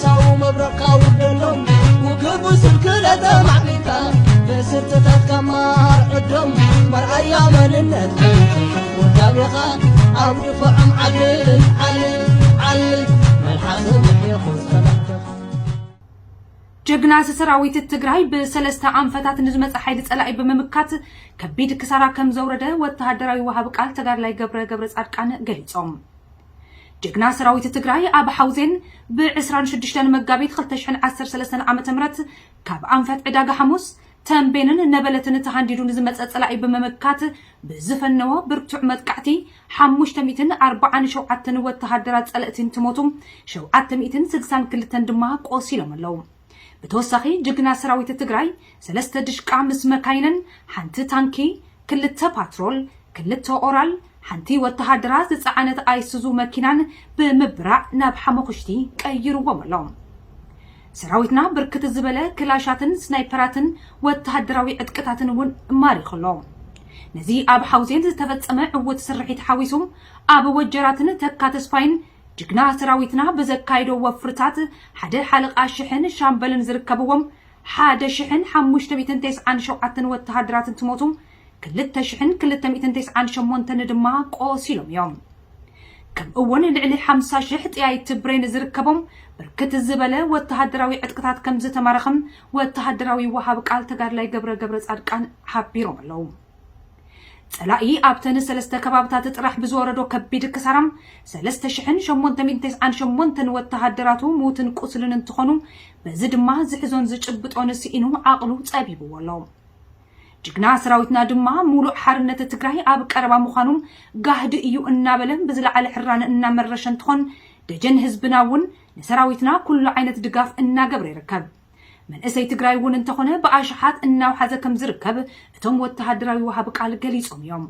ሳው መብረቕካ ኣውርደሎም ውግቡ ስንክለተ ማዕቢልካ ብስርትታትካ ማርዕዶም መርኣያ መንነት ወዳቤኻ ኣብ ድፎዖም ዓል ዓል ዓል መልሓስ ምሒኹ ዝኸላተኻ ጀግና ሰራዊት ትግራይ ብሰለስተ ኣንፈታት ንዝመፀ ሓይሊ ፀላኢ ብምምካት ከቢድ ክሳራ ከምዘውረደ ወተሃደራዊ ወሃቢ ቃል ተጋድላይ ገብረ ገብረፃድቃን ገሊፆም። ጅግና ሰራዊት ትግራይ ኣብ ሓውዜን ብ ዕስራን ሽዱሽተን መጋቢት ክልተ ሽሕን ዓሰርተ ሰለስተን ዓመተ ምህረት ካብ ኣንፈት ዕዳጋ ሓሙስ፣ ተምቤንን ነበለትን ተሃንዲዱ ንዝመፀ ፀላኢ ብምምካት ብዝፈነዎ ብርቱዕ መጥቃዕቲ ሓሙሽተ ሚእትን ኣርብዓን ሸውዓተን ወተሃደራት ፀለእቲ እንትሞቱ ሸውዓተ ሚእትን ስድሳን ክልተን ድማ ቆሲሎም ኣለው። ብተወሳኺ ጅግና ሰራዊት ትግራይ ሰለስተ ድሽቃ ምስ መካይነን፣ ሓንቲ ታንኪ፣ ክልተ ፓትሮል፣ ክልተ ኦራል፣ ሓንቲ ወተሃደራ ዝፀዓነት ኣይሱዙ መኪናን ብምብራዕ ናብ ሓሞኽሽቲ ቀይርዎም ኣሎ። ሰራዊትና ብርክት ዝበለ ክላሻትን ስናይፐራትን ወተሃደራዊ ዕጥቅታትን እውን ማሪኹ ኣሎ። ነዚ ኣብ ሓውዜን ዝተፈፀመ ዕዉት ስርሒት ሓዊሱ ኣብ ወጀራትን ተካ ተስፋይን ጅግና ሰራዊትና ብዘካይዶ ወፍርታት ሓደ ሓለቓ ሽሕን ሻምበልን ዝርከብዎም ሓደ ሽሕን ሓሙሽተ ሚእትን ተስዓን ሸውዓተን ወተሃደራት እንትሞቱ ክልተ ሽሕን ክልተ ሚእትን ተስዓን ሸሞንተን ድማ ቆሲሎም እዮም። ከምኡ'ውን ልዕሊ ሓምሳ ሽሕ ጠያይቲ ብሬን ዝርከቦም ብርክት ዝበለ ወተሃደራዊ ዕጥቅታት ከምዝተማረኸ ወተሃደራዊ ወሃቢ ቃል ተጋድላይ ገብረ ገብረጻድቃን ሓቢሮም ኣለው። ጸላኢ ኣብተን ሰለስተ ከባብታት ጥራሕ ብዝወረዶ ከቢድ ክሳራ ሰለስተ ሽሕን ሸሞንተ ሚእትን ተስዓን ሸሞንተን ወተሃደራቱ ምዉትን ቁስልን እንትኾኑ በዚ ድማ ዝሕዞን ዝጭብጦን ስኢኑ ዓቕሉ ጸቢብዎ ኣሎ። ጅግና ሰራዊትና ድማ ሙሉእ ሓርነት ትግራይ ኣብ ቀረባ ምዃኑ ጋህዲ እዩ እናበለ ብዝለዓለ ሕራነ እናመረሸ እንትኾን ደጀን ህዝብና እውን ንሰራዊትና ኩሉ ዓይነት ድጋፍ እናገብረ ይርከብ። መንእሰይ ትግራይ እውን እንተኾነ ብኣሽሓት እናውሓዘ ከምዝርከብ እቶም ወተሃደራዊ ወሃቢ ቃል ገሊፆም እዮም።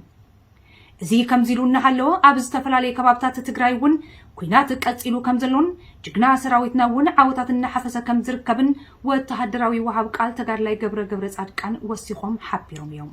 እዚ ከምዚ ኢሉ እናሃለወ ኣብ ዝተፈላለየ ከባብታት ትግራይ እውን ኩናት ቀፂሉ ከምዘሎን ጅግና ሰራዊትና እውን ዓወታት እናሓፈሰ ከምዝርከብን ወተሃደራዊ ወሃቢ ቃል ተጋድላይ ገብረ ገብረፃድቃን ወሲኾም ሓቢሮም እዮም።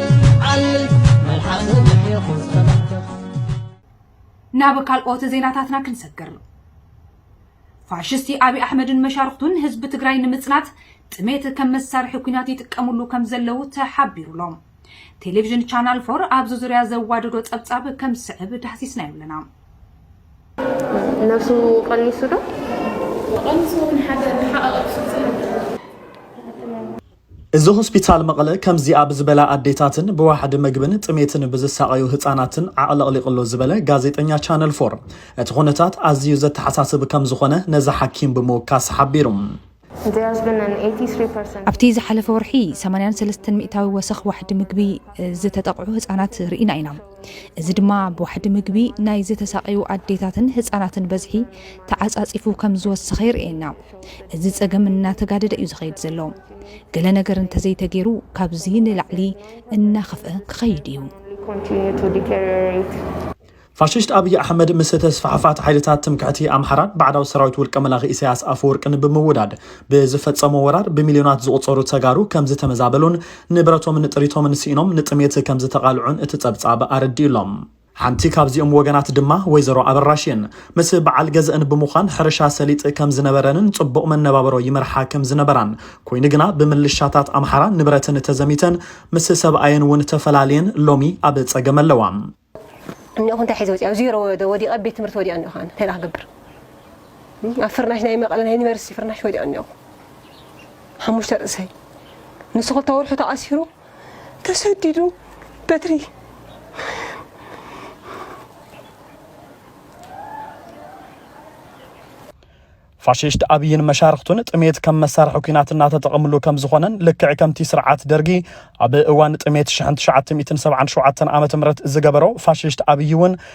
ናብ ካልኦት ዜናታትና ክንሰግር ፋሽስቲ ኣብይ ኣሕመድን መሻርኽቱን ህዝቢ ትግራይ ንምፅናት ጥሜት ከም መሳርሒ ኩናት ይጥቀምሉ ከም ዘለው ተሓቢሩሎም ቴሌቪዥን ቻናል ፎር ኣብዚ ዙርያ ዘዋደዶ ፀብፃብ ከም ዝስዕብ ዳህሲስናዮ ኣለና ነብሱ ቀኒሱ ዶ ቀኒሱ ውን ሓደ ሓቐቕሱ እዚ ሆስፒታል መቐለ ከምዚ ኣብ ዝበላ ኣዴታትን ብዋሕዲ መግብን ጥሜትን ብዝሳቐዩ ህፃናትን ዓቕለቕሊቕ'ሎ ዝበለ ጋዜጠኛ ቻነል ፎር፣ እቲ ኩነታት ኣዚዩ ዘተሓሳስብ ከምዝኾነ ነዛ ሓኪም ብምውካስ ሓቢሩ። ኣብቲ ዝሓለፈ ወርሒ ሰማንያን ሰለስተን ሚእታዊ ወሰኽ ዋሕዲ ምግቢ ዝተጠቕዑ ህፃናት ርኢና ኢና። እዚ ድማ ብዋሕዲ ምግቢ ናይ ዝተሳቐዩ ኣዴታትን ህፃናትን በዝሒ ተዓፃፂፉ ከምዝወሰኸ የርእየና። እዚ ፀገም እናተጋደደ እዩ ዝኸይድ ዘሎ። ገለ ነገር እንተዘይተገይሩ ካብዚ ንላዕሊ እናኸፍአ ክኸይድ እዩ። ፋሽስት ኣብይ ኣሕመድ ምስ ተስፋሕፋሕቲ ሓይልታት ትምክሕቲ ኣምሓራን ባዕዳዊ ሰራዊት ውልቀ መላኺ ኢሳያስ ኣፈወርቅን ብምውዳድ ብዝፈጸሞ ወራር ብሚልዮናት ዝቑጸሩ ተጋሩ ከም ዝተመዛበሉን ንብረቶምን ጥሪቶምን ስኢኖም ንጥሜት ከም ዝተቓልዑን እቲ ጸብጻብ ኣረዲኡሎም። ሓንቲ ካብዚኦም ወገናት ድማ ወይዘሮ ኣበራሽ እየን። ምስ በዓል ገዘእን ብምዃን ሕርሻ ሰሊጥ ከም ዝነበረንን ጽቡቕ መነባብሮ ይመርሓ ከም ዝነበራን፣ ኮይኑ ግና ብምልሻታት ኣምሓራ ንብረትን ተዘሚተን ምስ ሰብኣየን እውን ተፈላልየን ሎሚ ኣብ ጸገም ኣለዋ። እኒኦኹ እንታይ ሒዘ ወፂኣ ዜሮ ወዲቐ ቤት ትምህርቲ ወዲቐ እኒኦኹ ኣነ እንታይ ክገብር ኣብ ፍርናሽ ናይ መቐለ ናይ ዩኒቨርሲቲ ፍርናሽ ወዲቐ እኒኦኹ ሓሙሽተ ርእሰይ ንሱ ክልተ ወርሑ ተኣሲሩ ተሰዲዱ በትሪ ፋሽስት ኣብይን መሻርኽቱን ጥሜት ከም መሳርሒ ኩናት እናተጠቐምሉ ከም ዝኾነን ልክዕ ከምቲ ስርዓት ደርጊ ኣብ እዋን ጥሜት 1977 ዓ ም ዝገበሮ ፋሽስት ኣብይ እውን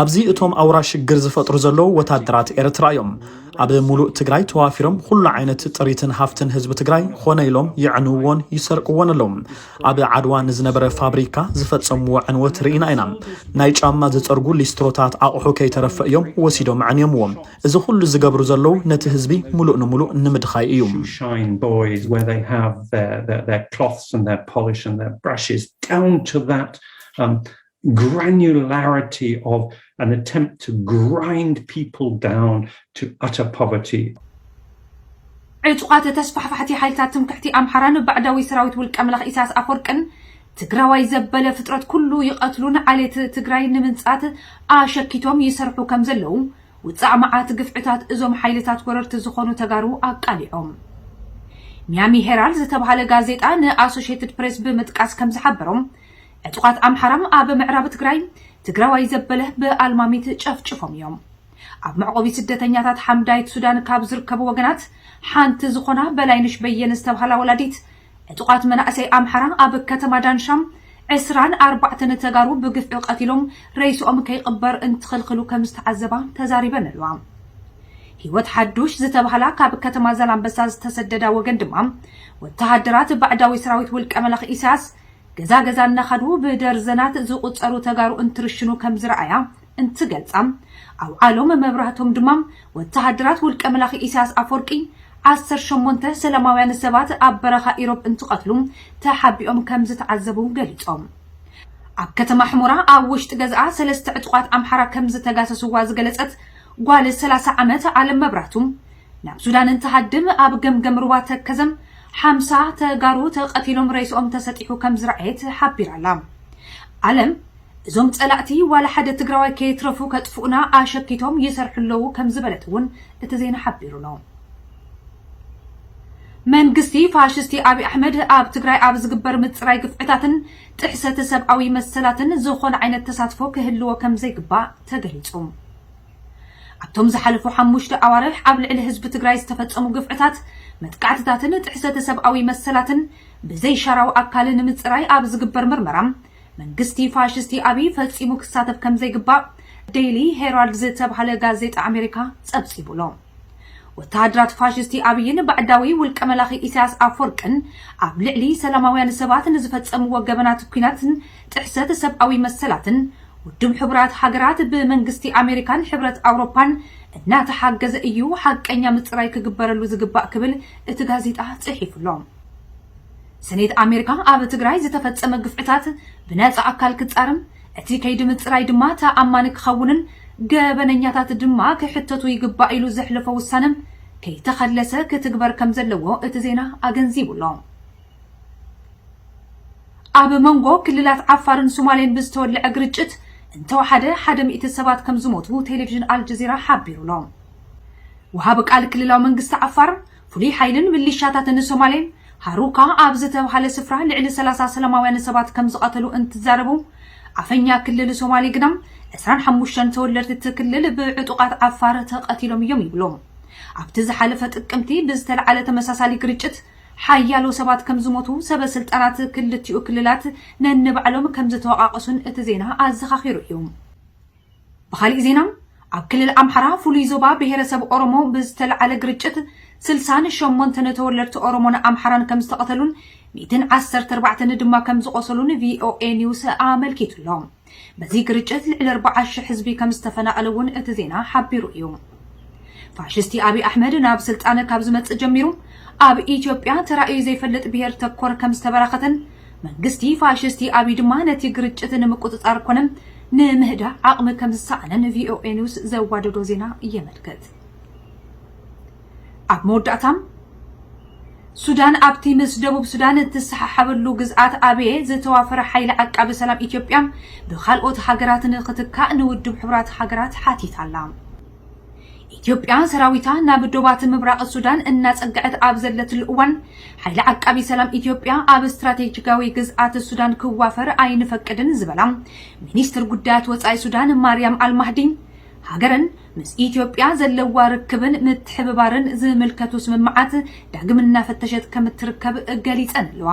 ኣብዚ እቶም ኣውራ ሽግር ዝፈጥሩ ዘለዉ ወታደራት ኤርትራ እዮም ኣብ ሙሉእ ትግራይ ተዋፊሮም ኹሉ ዓይነት ጥሪትን ሃፍትን ህዝቢ ትግራይ ኾነ ኢሎም የዕንውዎን ይሰርቅዎን ኣለዉ ኣብ ዓድዋ ንዝነበረ ፋብሪካ ዝፈጸምዎ ዕንወት ርኢና ኢና ናይ ጫማ ዝጸርጉ ሊስትሮታት ኣቑሑ ከይተረፈ እዮም ወሲዶም ኣዕንዮምዎ እዚ ኹሉ ዝገብሩ ዘለዉ ነቲ ህዝቢ ሙሉእ ንሙሉእ ንምድኻይ እዩ um, granularity of an attempt to grind people down to utter poverty. ዕጡቓት ተስፋሕፋሕቲ ሓይልታት ትምክሕቲ ኣምሓራን ባዕዳዊ ሰራዊት ውልቀ መላኺ ኢሳያስ ኣፈወርቅን ትግራዋይ ዘበለ ፍጥረት ኩሉ ይቐትሉን ዓሌት ትግራይ ንምንጻት ኣሸኪቶም ይሰርሑ ከም ዘለዉ ውጻእ መዓት ግፍዕታት እዞም ሓይልታት ወረርቲ ዝኾኑ ተጋሩ ኣቃሊዖም። ሚያሚ ሄራልድ ዝተብሃለ ጋዜጣ ንኣሶሽየትድ ፕሬስ ብምጥቃስ ከም ዝሓበሮም ዕጡቓት ኣምሓራ ኣብ ምዕራብ ትግራይ ትግራዋይ ዘበለ ብኣልማሚት ጨፍጭፎም እዮም። ኣብ መዕቆቢ ስደተኛታት ሓምዳይት ሱዳን ካብ ዝርከቡ ወገናት ሓንቲ ዝኾና በላይነሽ በየነ ዝተብሃላ ወላዲት ዕጡቓት መናእሰይ ኣምሓራ ኣብ ከተማ ዳንሻ ዕስራን ኣርባዕተን ተጋሩ ብግፍዒ ቀቲሎም ረይስኦም ከይቕበር እንትኽልክሉ ከም ዝተዓዘባ ተዛሪበን ኣለዋ። ህይወት ሓዱሽ ዝተብሃላ ካብ ከተማ ዛላምበሳ ዝተሰደዳ ወገን ድማ ወተሃደራት ባዕዳዊ ሰራዊት ውልቀ መላኺ ኢሳያስ ገዛ ገዛ እናኸዱ ብደርዘናት ዝቑፀሩ ተጋሩ እንትርሽኑ ከምዝረኣያ እንትገልፃ፣ ኣውዓሎም መብራህቶም ድማ ወተሃደራት ውልቀ መላኺ ኢሳያስ ኣፎርቂ ዓሰርተ ሸሞንተ ሰላማውያን ሰባት ኣብ በረኻ ኢሮብ እንትቐትሉ ተሓቢኦም ከምዝተዓዘቡ ገሊፆም። ኣብ ከተማ ሕሞራ ኣብ ውሽጢ ገዝኣ ሰለስተ ዕጡቓት ኣምሓራ ከምዝተጋሰስዋ ዝገለፀት ጓል ሰላሳ ዓመት ኣለም መብራህቱ፣ ናብ ሱዳን እንትሃድም ኣብ ገምገም ሩባ ተከዘም ሓምሳ ተጋሩ ተቀቲሎም ሬስኦም ተሰጢሑ ከምዝረኣየት ሓቢራ ኣላ። ኣለም እዞም ፀላእቲ ዋላ ሓደ ትግራዋይ ከየትረፉ ከጥፍኡና ኣሸኪቶም ይሰርሑ ኣለዉ ከምዝበለት እውን እቲ ዜና ሓቢሩ ኣሎ። መንግስቲ ፋሽስቲ ኣብይ ኣሕመድ ኣብ ትግራይ ኣብ ዝግበር ምፅራይ ግፍዕታትን ጥሕሰት ሰብኣዊ መሰላትን ዝኾነ ዓይነት ተሳትፎ ክህልዎ ከምዘይግባእ ተገሊፁ። ኣብቶም ዝሓለፉ ሓሙሽተ ኣዋርሕ ኣብ ልዕሊ ህዝቢ ትግራይ ዝተፈፀሙ ግፍዕታት፣ መጥቃዕትታትን ጥሕሰተ ሰብኣዊ መሰላትን ብዘይሻራዊ ኣካል ንምፅራይ ኣብ ዝግበር ምርመራ መንግስቲ ፋሽስቲ ኣብይ ፈፂሙ ክሳተፍ ከምዘይግባእ ዴይሊ ሄራልድ ዝተብሃለ ጋዜጣ ኣሜሪካ ፀብፂቡ'ሎ። ወተሃደራት ፋሽስቲ ኣብይን ባዕዳዊ ውልቀ መላኺ ኢሳያስ ኣፍወርቅን ኣብ ልዕሊ ሰላማውያን ሰባት ንዝፈጸምዎ ገበናት ኲናትን ጥሕሰት ሰብኣዊ መሰላትን ውድብ ሕቡራት ሃገራት ብመንግስቲ ኣሜሪካን ሕብረት ኣውሮፓን እናተሓገዘ እዩ ሓቀኛ ምጽራይ ክግበረሉ ዝግባእ ክብል እቲ ጋዜጣ ጽሒፉ ኣሎ። ሰኔት ኣሜሪካ ኣብ ትግራይ ዝተፈጸመ ግፍዕታት ብነጻ ኣካል ክጻርም እቲ ከይዲ ምፅራይ ድማ ተኣማኒ ክኸውንን ገበነኛታት ድማ ክሕተቱ ይግባእ ኢሉ ዘሕለፎ ውሳነ ከይተኸለሰ ክትግበር ከምዘለዎ እቲ ዜና ኣገንዚቡ ኣሎ። ኣብ መንጎ ክልላት ዓፋርን ሱማሌን ብዝተወልዐ ግርጭት እንተወሓደ ሓደ ሚእቲ ሰባት ከምዝሞቱ ቴሌቪዥን ኣልጀዚራ ሓቢሩ ኣሎ። ወሃቢ ቃል ክልላዊ መንግስቲ ዓፋር ፍሉይ ሓይልን ምሊሻታትን ሶማሌ፣ ሃሩካ ኣብ ዝተብሃለ ስፍራ ልዕሊ ሰላሳ ሰላማውያን ሰባት ከምዝቐተሉ እንትዛረቡ፣ ኣፈኛ ክልል ሶማሌ ግና ዕስራን ሓሙሽተን ተወለድቲ እቲ ክልል ብዕጡቓት ዓፋር ተቐቲሎም እዮም ይብሉ። ኣብቲ ዝሓለፈ ጥቅምቲ ብዝተልዓለ ተመሳሳሊ ግርጭት ሓያሎ ሰባት ከምዝሞቱ ሰበ ስልጣናት ክልቲኡ ክልላት ነንባዕሎም ከምዝተወቓቐሱን እቲ ዜና ኣዘኻኺሩ እዩ። ብኻሊእ ዜና ኣብ ክልል ኣምሓራ ፍሉይ ዞባ ብሄረሰብ ኦሮሞ ብዝተልዓለ ግርጭት ስልሳን ሸሞንተን ተወለድቲ ኦሮሞን ኣምሓራን ከምዝተቐተሉን ሚእትን ዓሰርተ ኣርባዕተን ድማ ከምዝቖሰሉን ቪኦኤ ኒውስ ኣመልኪቱ'ሎ። በዚ ግርጭት ልዕሊ ኣርብዓ ሽሕ ህዝቢ ከምዝተፈናቐለ እውን እቲ ዜና ሓቢሩ እዩ። ፋሽስቲ ኣብይ ኣሕመድ ናብ ስልጣን ካብ ዝመጽእ ጀሚሩ ኣብ ኢትዮጵያ ተራእዩ ዘይፈልጥ ብሄር ተኮር ከም ዝተበራኸተን መንግስቲ ፋሽስቲ ኣብይ ድማ ነቲ ግርጭት ንምቁጽጻር ኮነ ንምህዳእ ዓቕሚ ከም ዝሰኣነን ቪኦኤ ኒውስ ዘዋደዶ ዜና የመልክት። ኣብ መወዳእታ ሱዳን ኣብቲ ምስ ደቡብ ሱዳን እትሰሓሓበሉ ግዝኣት ኣብየ ዝተዋፈረ ሓይሊ ዓቃቢ ሰላም ኢትዮጵያ ብካልኦት ሃገራት ንክትካእ ንውድብ ሕቡራት ሃገራት ሓቲታ ኣላ። ኢትዮጵያ ሰራዊታ ናብ ዶባት ምብራቕ ሱዳን እናጸግዐት ኣብ ዘለትሉ እዋን፣ ሓይሊ ዓቃቢ ሰላም ኢትዮጵያ ኣብ ስትራቴጂካዊ ግዝኣት ሱዳን ክዋፈር ኣይንፈቅድን ዝበላ ሚኒስትር ጉዳያት ወጻኢ ሱዳን ማርያም ኣልማህዲ፣ ሃገረን ምስ ኢትዮጵያ ዘለዋ ርክብን ምትሕብባርን ዝምልከቱ ስምምዓት ዳግም እናፈተሸት ከምትርከብ ገሊፀን ኣለዋ።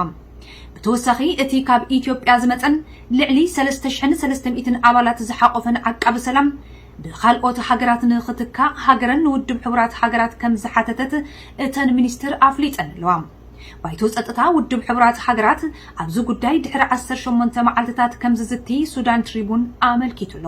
ብተወሳኺ እቲ ካብ ኢትዮጵያ ዝመፀን ልዕሊ ሰለስተ ሽሕን ሰለስተ ሚእትን ኣባላት ዝሓቖፈን ዓቃቢ ሰላም ብኻልኦት ሃገራት ንኽትካእ ሃገረን ንውድብ ሕቡራት ሃገራት ከምዝሓተተት እተን ሚኒስትር ኣፍሊጠን ኣለዋ። ባይቶ ፀጥታ ውድብ ሕቡራት ሃገራት ኣብዚ ጉዳይ ድሕሪ ዓሰርተ ሸሞንተ መዓልትታት ከምዝዝቲ ሱዳን ትሪቡን ኣመልኪቱ ኣሎ።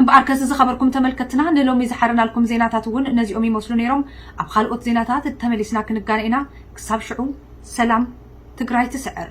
እምበኣርከስ ዝኸበርኩም ተመልከትትና ንሎሚ ዝሓረናልኩም ዜናታት እውን ነዚኦም ይመስሉ ነይሮም። ኣብ ኻልኦት ዜናታት ተመሊስና ክንጋነ ኢና። ክሳብ ሽዑ ሰላም ትግራይ ትስዕር!